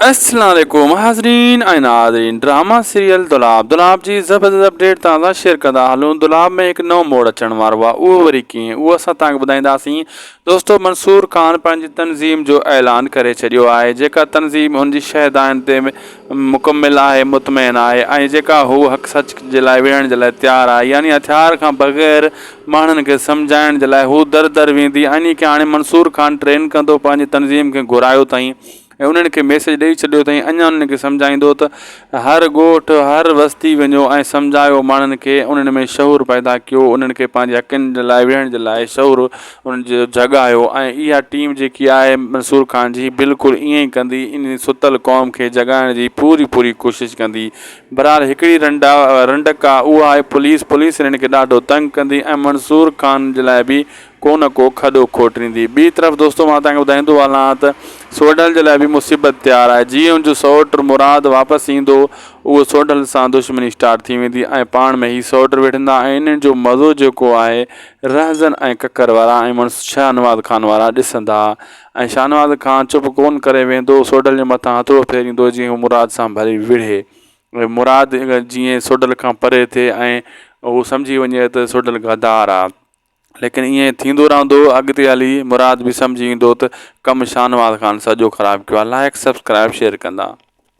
السلام عليڪم حاضرين ۽ ناظرين ڊراما سيريل دولاب دولاب جي زبردست اپڊيٽ توهان سان شيئر ڪندا هلون دولاب ۾ هڪ نئون موڙ اچڻ وارو آهي اهو وري ڪيئن اهو اسان توهان کي ٻڌائينداسين دوستو منصور خان پنهنجي تنظيم جو اعلان ڪري ڇڏيو آهي جيڪا تنظيم هن جي شهدائن تي مڪمل آهي مطمئن آهي ۽ جيڪا هو حق سچ جي لاء وڙهڻ جي لاء تيار آهي يعني هٿيار کان بغير ماڻهن کي سمجهائڻ جي لاء هو در در ويندي انهي کي هاڻي منصور خان ٽرين ڪندو پنهنجي تنظيم کي گهرايو اٿائين ۽ انهن کي ميسيج ڏئي ڇڏيو اٿئي اڃا انهن کي سمجهائيندو ته هر ڳوٺ هر وستي وڃو ۽ سمجهايو ماڻهن کي انهن ۾ شعور پيدا ڪيو انهن کي پنهنجي حقن جي لاء ويهڻ جي لاء شعور انهن جو جڳايو ۽ اها ٽيم جيڪي آهي منصور خان جي بلڪل ائين ئي ڪندي انهي ستل قوم کي جڳائڻ جي پوري پوري ڪوشش ڪندي بھرحال هڪڙي رنڊا رنڊڪ آهي اها آهي پوليس پوليس انهن کي ڏاڍو تنگ ڪندي ۽ منصور خان جي لاء به ڪو نه ڪو کڏو کوٽريندي. ٻي طرف دوستو مان توهان کي ٻڌائيندو هلان ته سوڍل جي لاء به مصيبت تيار آهي. جيئن ان جو سئوٽ مراد واپس ايندو اهو سوڍل سان دشمني اسٽارٽ ٿي ويندي ۽ پاڻ ۾ هي سئوٽ وڙهندا ۽ انهن جو مزو جيڪو آهي رهزن ۽ ڪڪر وارا ۽ مڙس شاهنواز خان وارا ڏسندا ۽ شاهنواز خان چپ ڪونه ڪري ويندو سوڍل جي مٿان هٿڙو ڦيريندو جيئن هو مراد سان ڀلي وڙهي ۽ مراد جيئن سوڍل کان پري ٿئي ۽ هو سمجهي وڃي ته سوڍل غدار آهي. ليڪن ائين ٿيندو رهندو اڳتي هلي مراد به سمجهي ايندو ته ڪم شاهنواز خان سڄو خراب ڪيو آهي لائق سبسڪرائب شيئر ڪندا.